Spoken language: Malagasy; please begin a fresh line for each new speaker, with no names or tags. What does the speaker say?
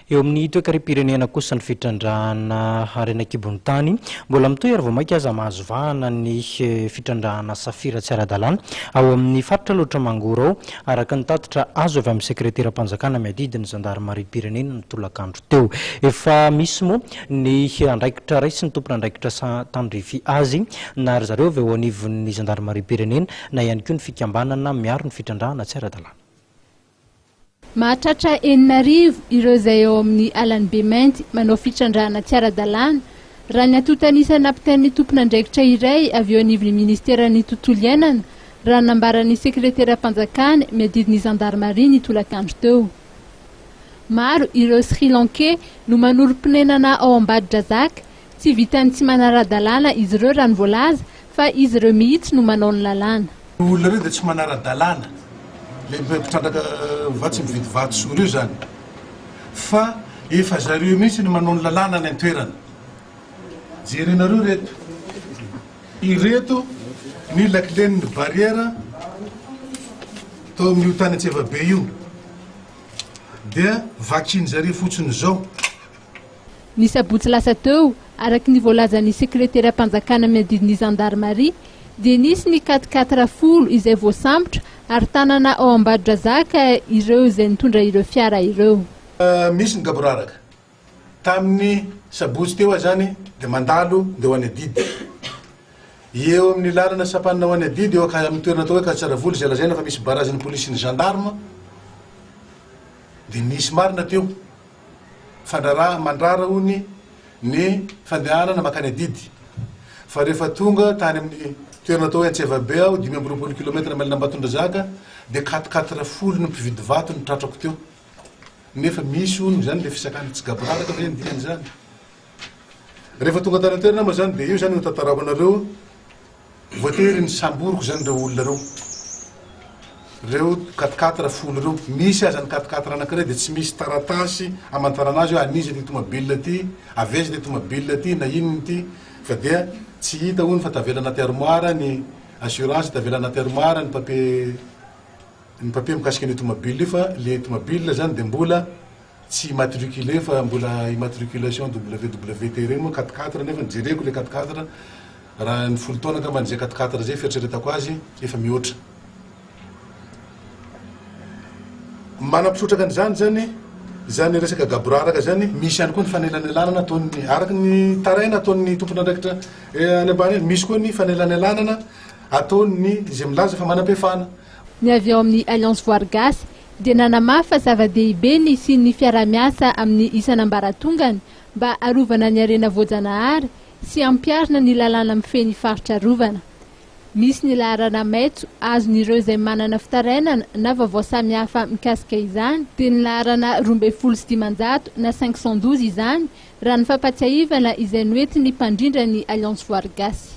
Eo amin'ny toekarem-pirenena kosa ny fitrandrahana harena an-kibon'ny tany. Mbola mitohy ary vao mainka aza mahazo vahana ny fitrandrahana safira tsy ara-dalàna ao amin'ny faritra Alaotra Mangoro ao, araka ny tatitra azo avy amin'ny sekreteram-panjakana miadidy ny zandarimariam-pirenena ny tolakandro teo. Efa misy moa ny andraikitra raisin'ny tompon'andraikitra tandrify azy na ry zareo avy ao anivon'ny zandarimariam-pirenena na ihany koa ny fikambanana miaro ny fitrandrahana tsy ara-dalàna. Mahatratra
enina arivo ireo izay eo amin'ny alan'i Bemainty manao fitrandrahana tsy ara-dalàna, raha ny antontan'isa nampitain'ny tompon'andraikitra iray avy eo anivon'ny minisiteran'ny Tontolo iainana, raha ny nambaran'ny sekreteram-panjakany miadidy ny zandarimaria ny tolakandro teo. Maro ireo Sri Lankey no manorim-ponenana ao Ambadidrazaka, Tsy vitan'ny tsy manara-dalàna izy ireo raha ny voalaza fa izy ireo mihitsy no manao ny lalàna. Io olona ireo dia tsy
manara-dalàna, ilay mpitrandraka vato sy mividy vato sy ory io izany, fa efa zareo mihitsy no manao ny lalàna any an-toerana. Jerenareo ireto, ireto ny lakilen'ny barrière tao amin'io tany Antsevabe io dia vakian'zareo fotsiny izao.
Ny sabotsy lasa teo, araka ny voalazan'ny sekreteram-panjakana miadidy ny zandarimaria, dia nisy ny quat quatre folo izay voasambotra ary tanana ao Ambadodrazaka ireo izay nitondra ireo fiara ireo. Misy ny
gaboraraka. Tamin'ny sabotsy teo aho izany dia mandalo ndeha ho any Adidy. Eo amin'ny lalana sampanina ho any Adidy, eo amin'ny toerana atao hoe Katsaravoly izay lazaina fa misy barazin'ny polisy sy ny gendarme dia nisy marina teo. Mifandraraha mandrara hono ny fandehanana mankany Adidy fa rehefa tonga tany amin'ny toerana atao hoe Antsevabe aho, dimy amby roapolo kilometatra mailina Ambatondrazaka, dia quatre quatre folo ny mpividy vato no tratrako teo. Nefa misy hono izany ilay fisakana, tsy gaboraraka ve ny dikan'izany? Rehefa tonga tany an-toerana aho moa izany dia io izany no tantarako anareo. Voatery nisamboriko zany reo olona reo, reo quatre quatre folo reo, misy aza ny quatre quatre anakiray de tsy misy taratasy amantarana azy oe an'iza ty tomobil ty, avy aiza ty tomobil ty na inona ty fa dia tsy hita hono fa tavela anaty armoire ny assurance, tavela anaty armoire ny papier ny papier mikasika an'io tomobil io fa le tomobil zany de mbola tsy immatriculé fa mbola immatriculation WWT ireny moa quatre quatre nefa jereko ilay quatre quatre raha ny folo taona angambany izay quatre quatre izay fieritreretako azy efa mihoatra manam-pisotraka an'izany izany izany resaka gaboraraka izany misy ihany koa ny fanelanelanana ataon'ny araka ny taraina ataon'ny tompon'andraikitra eh, any ambany any misy koa ny fanelanelanana ataon'ny izay milaza fa manam-pefana Ny avy ao amin'ny
Alliance Voary Gasy dia nanamafy fa zava-dehibe ny hisian'ny fiaraha-miasa amin'ny isan'ambaratongany mba harovana ny harena voajanahary sy hampiharina ny lalàna mifehy ny faritra arovana. Misy ny laharana maitso azon'ireo izay manana fitarainana na vaovao samihafa mikasika izany, dia ny laharana roa ambin'ny folo sy dimanjato na cinq cent douze izany, raha ny fampahatsiahivana izay noentin'ny mpandrindra ny Alliance Voary Gasy.